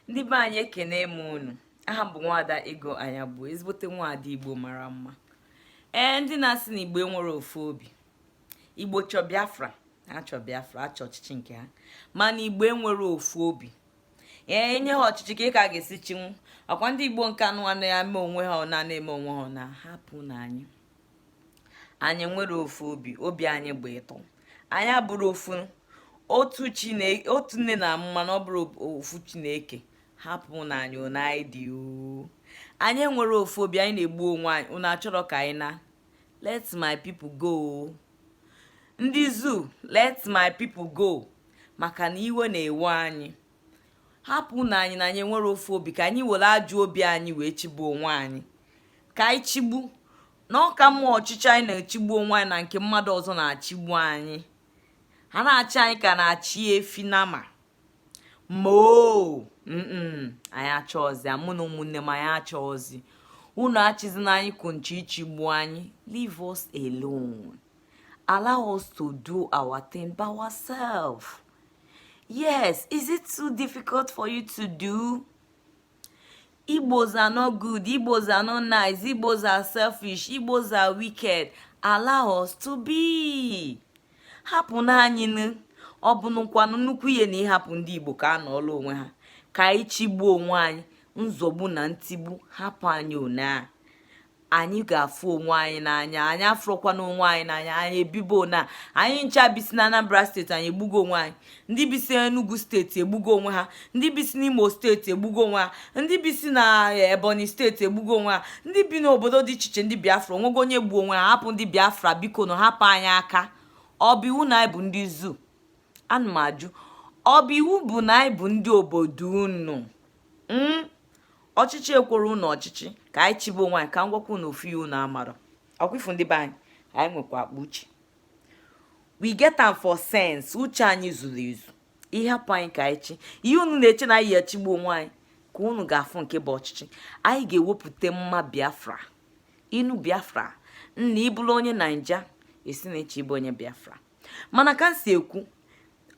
ndị be anyị ekene m unu aha m bụ nwada ego anya bụ ezigbote nwada igbo mara mma ee ndị na-asị na igbo enwerọ ofu obi igbo chọ biafra achọ biafra achọ ọchịchị nke ha mana igbo enwerọ ofu obi ee enye ha ọchịchị kee ka a ga-esi chịnwu ọkwa ndị igbo nke anụ anụ ya mee onwe ha ọ na-eme onwe ha na hapụnụ anyị anyị enwerọ ofu obi obi anyị bụ ịtọ anyị abụrọ ofu otu chineke otu nne na-amụ mana ọ bụrọ ofu chi na-eke hapụnụ anyị ona anyị dị anyị enwerọ ofu obi anyị na-egbu onwe anyị unu achọrọ ka anyị naa let my people go ndị zoo let my people go maka na iwe na-ewe anyị hapụnụ anyị na anyị enwerọ ofu obi ka anyị were ajọ obi anyị wee chịgbu onwe anyị ka anyị chịgbu na ọ ka mma ọchịchị anyị na-achịgbu onwe anyị na nke mmadụ ọzọ na-achịgbu anyị ha na-achị anyị ka a na-achị efi nama moo anyị achọọzi mụ na ụmụnne m anyị achọọzi unu achịzina anyị kwụsị ịchịgbu anyị leave us alone allow us to do our thing by ourselves yes is it too difficult for you to do igbos are not good igbos are not nice igbos are selfish igbos are wicked allow us to be hapụnụ anyị ọ bụnụkwanụ nnukwu ihe na ịhapụ ndị igbo ka ha nọọla onwe ha ka anyị chịgbuo onwe anyị nzọgbu na ntigbu hapụ anyị one a anyị ga-afụ onwe anyị n'anya anyị afụrọkwanụ onwe anyị n'anya anyị ebibo na anyị ncha bisi na anambra steeti anyị egbugo onwe anyị ndị bisi enugu steeti egbugo onwe ha ndị bisi n'imo steeti egbugo onwe ha ndị bisi na eh, ebonyi steeti egbugo onwe ha ndị bi n'obodo dị iche iche ndị biafra onwego onye gbuo onwe ha hapụ ndị biafra bikonụ hapụ anyị aka ọ bụ iwu na anyị bụ ndị zoo ana m ajụ ọ bụ iwu bụ na anyị bụ ndị obodo unu hmm? ọchịchị ekwerọ unu ọchịchị ka anyị chịba onwe anyị ka m gwakwa unu ofu ihe unu amarọ ọkwa ị fụ ndị be anyị anyị nwekwa akpa uche we get am for sense uche anyị zuru ezu ị hapụ anyị ka anyị chị ihe unu na-eche na anyị ya-achịgbu onwe anyị ka unu ga-afụ nke bụ ọchịchị anyị ga-ewepụta mma biafra ị nụ biafra nna ị bụrụ onye naija esi na eche ịbụ onye biafra mana ka m si ekwu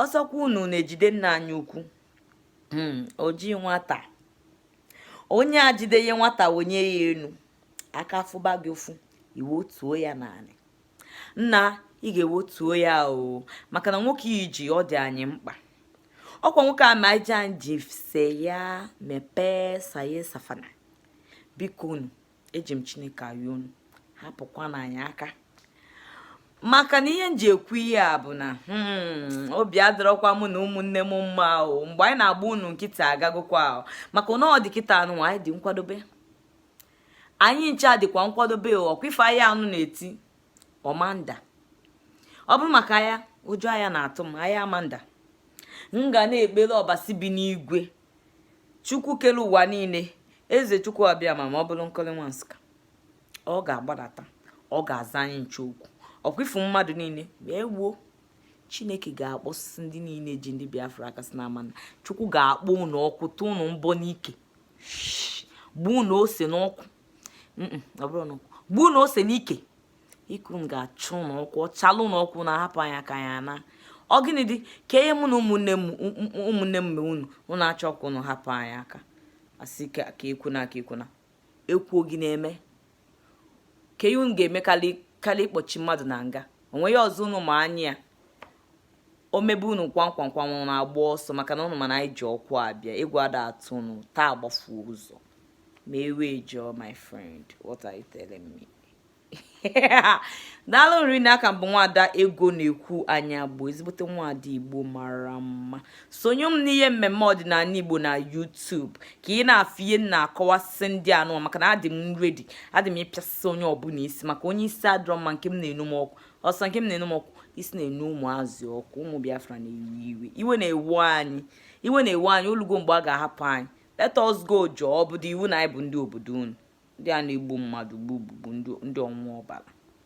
ọsọkwa unu na-ejide nna anyị ukwu hmm, oji nwata onye a jide ihe nwata wenie ya elu aka fụba gị ụfụ i wetuo ya n'anị nna ị ga-ewotuo ya o maka na nwoke i ji ọ dị anyị mkpa ọkwa nwoke a ma ji sị ya mepee saye safana bikonụ eji m chineke ayọ unu hapụkwanụ anyị aka maka na ihe m ji ekwu ihe a bụ na hmm, obi adịrọkwa mụ na ụmụnne m mma o mgbe anyị na-agba unu nkịta agagokwa o maka na ọ dị kịta nụ anyị dị nkwadobe anyị ncha dịkwa nkwadobe ọkwa ife a ị na-anụ na-eti ọ ma nda ọ bụrụ maka ya ụjọ aya na-atụ m anyị ama nda m ga na-ekpere ọbasi bi n'igwe chukwu kere ụwa niile eze chukwu abịama ma ọ bụrụ nkọli nwa nsụka ọ ga-agbadata ọ ga-aza anyị nche okwu ọkwa ị fụ mmadụ niile wee wuo chineke ga-akpọsịsị ndị niile ji ndị biafra aka sị na ama na chukwu ga-akpọ unu ọkụ tụ unu mbọ n'ike gbuo unu ose n'ọkụ gbuo unu ose n'ike ike unu ga-acha unu ọkụ ọ chala unu ọkụ unu ahapụ anyị aka ya na ọ gịnị dị ka ihe mụ na ụmụnne m mere unu unu achọ ka unu hapụ anyị aka a sị ka ekwuna ka ekwuna e kwuo gịnị eme kee ihe unu ga-eme karịa ịkpọchi mmadụ na nga onweghị ọzọ unu ma anya ya o mebe unu kwamkwamkwam unu agba ọsọ maka na unu ma na anyị ji ọkụ abịa egwu ada atụ unu taa agbafuo ụzọ ma ewe jọọ my friend what are you telling me daalụ rinne aka m bụ nwada egonekwu anyaegbu ezigbote nwada igbo mara mma sonye m n'ihe mmemme ọdịnala igbo na YouTube ka ị na-afụ ihe m na-akọwasị ndị anụwa maka na adị m ready adị m ịpịasị onye ọbụla isi maka onye isi adịrọ mma nke m na-enu m ọkụ ọ sọ nke m na-enu m ọkụ isi na-enu ụmụazị ọkụ ụmụ Biafra na-ewe iwe iwe na-ewe anyị iwe na-ewe anyị olugo mgbe a ga-ahapụ anyị let us go jọọ ọ bụdị iwu na anyị bụ ndị obodo unu ndị a na-egbu mmadụ gbugbugbu ndị ọṅụ ọbara